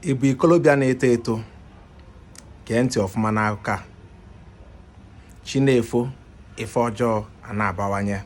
ị bụ ikolobịa na-eto eto gee ntị ọfụma n'akụkọ a chi na-efo ife ọjọọ a na-abawanye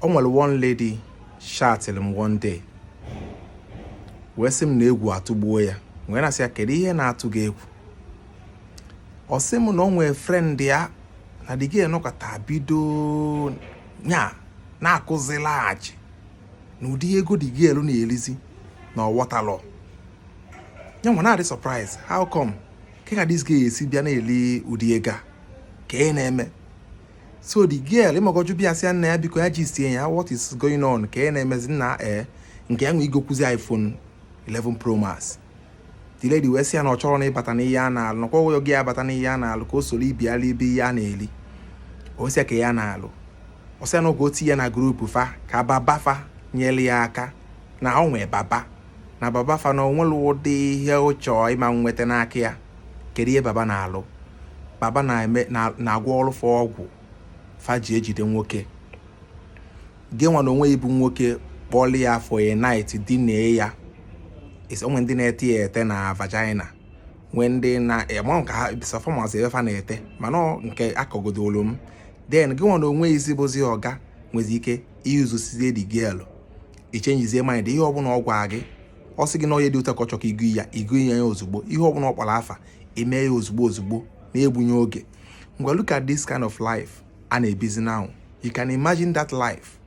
o nwere one lady chatịrị m one day wee sị m na egwu atụgbuo ya wee na-asị ya kedu ihe na-atụ gị egwu ọ sị m na o nwere friend ya na the girl nọkata bido nya na-akụzilaghachi na ụdị ego the girl na-elizi na ọ wọtalọ ya nwa na-adị surprise how come kee ka this girl si bịa na-eli ụdị ego a kee ihe na-eme so the girl ị mago just bịa sị nna ya biko ya gistie ya what is going on kee ihe na-emezi now ee eh, nke ya nwe igokwuzi iPhone 11 Pro Max the lady wee sị ya na ọ chọrọ na ịbata n'ihe a na-alụ nakwa ọghọghọ gị abata n'ihe a na-alụ ka o soro ibe ya libe ihe a na-eli ọ sị ya kee ihe a na-alụ ọ sị ya na ọ ga-etinye ya na group fa ka baba fa nyere ya aka na o nwee baba na baba fa na o nwerọ ụdị ihe ị chọọ ị ma nweta n'aka ya kedu ihe baba na-alụ baba na-agwọrụ fa ọgwụ fa ji ejide nwoke gị nwa na onwe ị bụ nwoke kpọlụ ya for a night dinee ya o nwee ndị na-ete ya ete na vagina nwee ndị na-ema nke ha sọfọmas ebe fa na-ete mana nke akọgodolu m then gị nwa na onwe isi bụzi ọ ga-enwezi ike iyuzu sizie the girl ichenjizie mind ihe ọbụla ọ gwa gị ọ sị gị na onye dị ụta ka ọ chọ ka ị gọọ ya ị gọọ ya ya ozugbo ihe ọbụla ọ kpọrọ afa e mee ya ozugbo ozugbo na-egbughị oge ngwa look at this kind of life a na-ebizi now you can imagine that life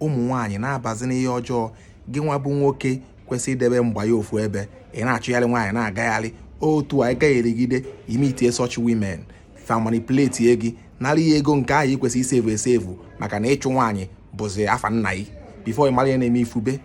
ụmụ nwaanyị na-abazi n'ihe ọjọọ gị nwa bụ nwoke kwesịrị idebe mgba ya ofu ebe ị na-achụgharị nwaanyị na-agagharị otu a gagharịgide i meetie such women fa manipulate gị nara ya ego nke ahụ i kwesị isevu esevu maka na ịchụ nwaanyị bụzi afa nna gị before ị mara ihe na-eme ifube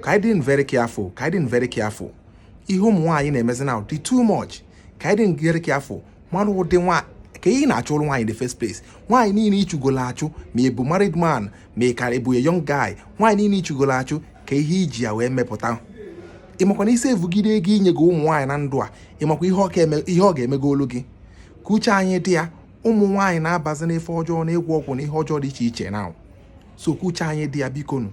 ka anyị dị very careful ka anyị dị very careful ihe ụmụ nwaanyị na-emezi now dị too much ka anyị dị very careful mara ụdị nwa ka ị na-achụrụ nwaanyị in the first place nwaanyị niile ịchụgolo achụ ma ị bụ married man ma ị ka bụ a young guy nwaanyị niile ịchụgolo achụ kee ihe i ji ya wee mepụta ị makwa na i sevugide ego i nyego ụmụ nwaanyị na ndụ a ị makwa ihe ọ ga-emegolu gị ka uche anyị dị ya ụmụ nwaanyị na-abazi n'ife ọjọọ na ịgwọ ọgwụ na ihe ọjọọ dị iche iche now so ka uche anyị dị ya bikonu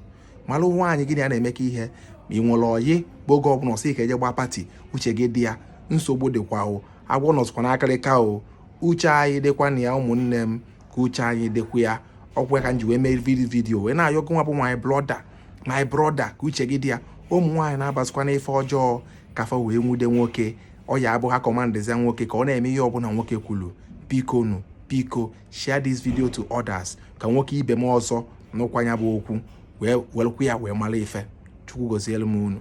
malụ nwaanyị gị na ya na-emekọ ihe ma ị nwere ọyị bụ oge ọbụla ọ sị ka e jee gbaa party uche gị dị ya nsogbu dịkwa o agwọ nọsịkwa n'akịrịka o uche anyị dịkwa na ya ụmụnne m ka uche anyị dịkwa ya ọkwa ka m ji wee mee vidi video wee na-ayọ gị nwa bụ my brother my brother ka uche gị dị ya ụmụ nwaanyị na-abazikwa n'ife ọjọọ ka fa wee nwude nwoke ọ ya abụ ha kọmandịzia nwoke ka ọ na-eme ihe ọbụla nwoke kwuru biko nụ biko share this video to others ka nwoke ibe m ọzọ nụkwa ya bụ okwu wee welụkwa ya wee mara ife chukwu gozielu m unu